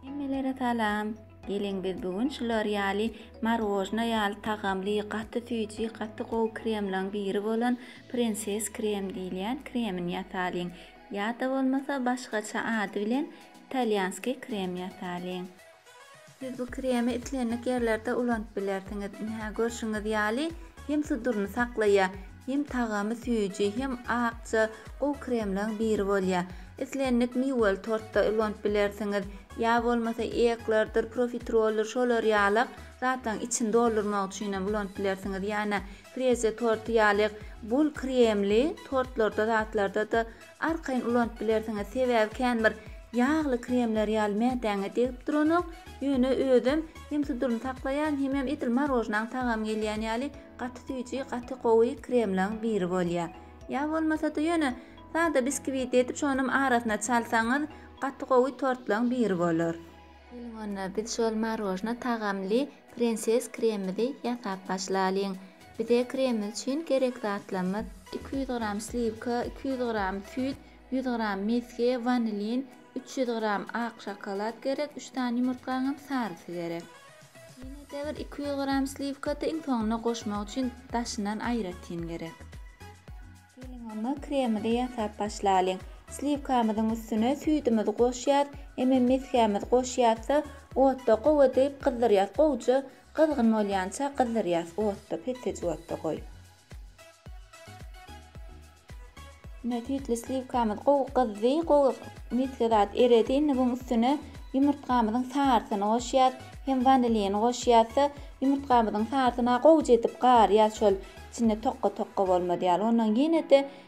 Hemmelere salam. Geliň biz bu gün şular ýaly marojna ýaly tagamly gaty süýji gaty gowy kremlaň biri bolan prenses krem diýilýän kremini ýasalyň. Ýa-da bolmasa başgaça ady bilen italýanskiý krem ýasalyň. Siz bu kremi islendik ýerlerde ulanyp bilersiňiz. Ine, görşüňiz ýaly, hem suduryny saklaýar, hem tagamy süýji, hem akja, gowy kremleriň biri bolýar. Islendik miweli tortda ulanyp bilersiňiz, ýa bolmasa eklerdir, profiteroldyr şolar ýalyk zatlaryň içini doldurmak üçin hem ulanyp bilersiňiz. Ýa-da frezýa torty ýalyk bol kremli tortlarda, zatlarda-da Arkaýyn ulanyp bilersiňiz, sebäbi känbir ýagly kremler ýaly mätäňe degip duranok, ýöne özem hem suduryny saklaýan, hemem edil marojnaň tagamy gelýän ýaly gaty süýji, gaty gowy kremlaň biri bolýar. Ýa bolmasa-da ýöne sada biskwitti edip şonam arasyna çalsaňyz gaty gowy tortlaň biri bolar. Geliň onda biz şol marojna tagamly prenses kremimizi ýasap başlalyň. Bize kreml üçin gerek zatlarymyz, iki ýüz gram sliwka, iki ýüz gram süýt, ýüz gram mesge, wanilin, üç ýüz gram ak şokolad gerek, üç sany ýumurtgaňam sarysy gerek. Ýene-de bir iki ýüz gram sliwka-da iň soňuna goşmak üçin daşyndan aýratyn gerek. Geliň onda kremli ýasap başlalyň. Sliwkamyzyň üstüne süýdümizi goşýas, emem mesgämizi goşýas-da, otda gowy edip gyzdyrýas, gowja Gyzgyn bolýança gyzdyrýas otda pessej otda goý. Mine süýtli sliwkamyz gowy gyzdy, gowy misli zat eredi. Indi buň üstüne ýumurtgamyzyň sarysyny goşýas, hem wanilini goşýasda ýumurtgamyzyň sarysyna gowja edip garýas şol içinde tokka-tokka bolmaz ýaly. Ondan ýene-de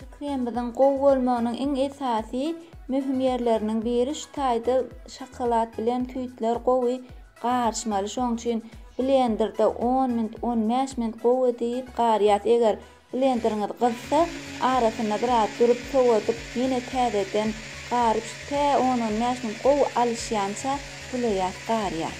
Pikirimizin gowy bolmagynyň iň esasy möhüm ýerleriniň biri şu taýda şokolad bilen küýtler gowy garyşmaly şoň üçin blenderde on minut on bäş minut gowy edip garýas eger blenderiňiz gyzsa arasynda biraz durup sowadyp ýene täzeden garyp şu tä on on bäş minut gowy alyşýança bulaýas garýas.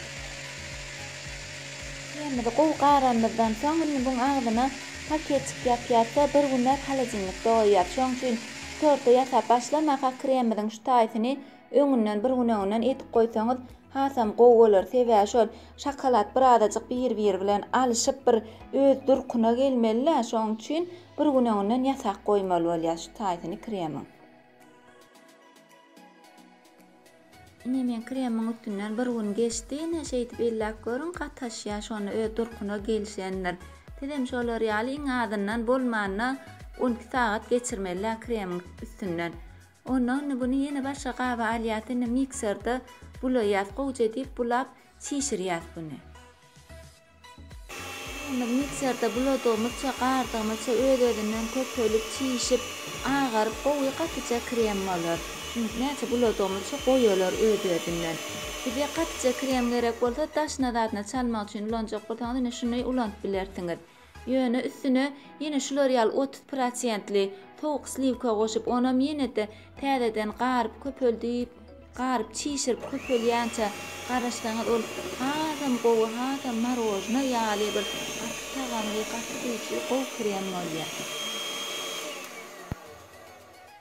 Çägimizi gowy garamyzdan soň, indi buň agzyna paketçik ýapýarys-da, bir günläp holodilnikde goýýarys. Şoň üçin torta ýasap başlamaka, kremimiziň şu taýsyny öňünden, bir gün öňünden edip goýsaňyz, hasam gowy bolar. Sebäbi şol şokolad birazajyk bir-biri bilen alyşyp, bir öz durkuna gelmeli-dä, şoň üçin bir gün öňünden ýasap goýmaly bolýar şu taýsyny kremiň. Ine men kremiň üstünden bir gün geçdi ine şeýdip elläp görüň gataşýar şonda öz durkuna gelişendir. Sizem şolar ýaly iň azyndan bolmanda on iki sagat geçirmeliler kremiň üstünden. Onda indi bunu ýene başga gaba alýas indi mikserde bulaýas gowja edip bulap çişirýas bunu. Ýüzümiz mikserda buladygymyzça, gardygymyzça öz-özünden köpelip, çişip, agaryp, gowy gatyja krem bolar. Çünki näçe buladygymyzça goýy olar öz-özünden. Size gatyja krem gerek bolsa, daşyna zadyna çalmak üçin ulanjak bolsaňyz ine şuny ulanyp bilersiňiz. Ýöne üstüne ýene şular ýaly otuz prosentli sowuk sliwka goşup, onam ýene-de täzeden garyp, köpeldip, Garyp çişirip köpelýänçä garaşsaňyz ol hasam gowy hasam marojna ýaly bir gaty tagamly gaty süýji gowy krem bolýar.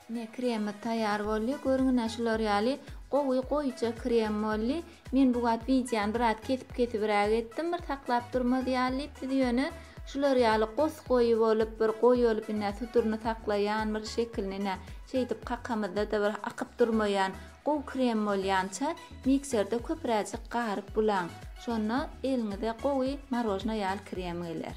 Mine kremimiz taýýar boldy. Görüň ine şular ýaly gowy goýuja krem boldy. Men bu wagt wideony biraz kesip kesibiräk etdim bir saklap durmaz ýaly diýip siz ýöne Şular ýaly gos goýy bolup bir goý bolup ine suduryny saklaýan bir şekilini ine şeýdip kakamyzda-da bir akyp durmaýan gowy krem bolýança mikserde köpüräjik garyp bulaň. Şonda eliňize gowy marožna ýaly krem geler.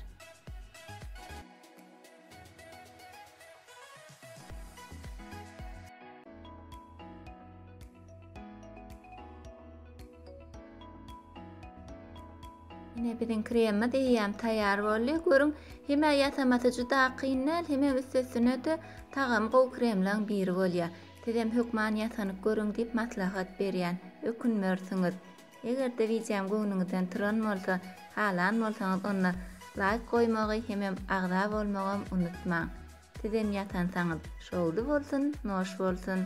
Ine biziň kremimiz eýýäm taýýar boldy. Görüň, hemä ýasamasy juda kyn däl, hemem üstesine-de tagamy gowy kremlaň biri bolýar. Sizem hökman ýasanyp görüň diýip maslahat berýän. Ökünmersiňiz. Eger-de wideom göwnüňizden turan bolsa, halan bolsaňyz onda laýk goýmagy hemem agza bolmagam unutmaň. Sizem ýatansaňyz, şowly bolsun, noş bolsun!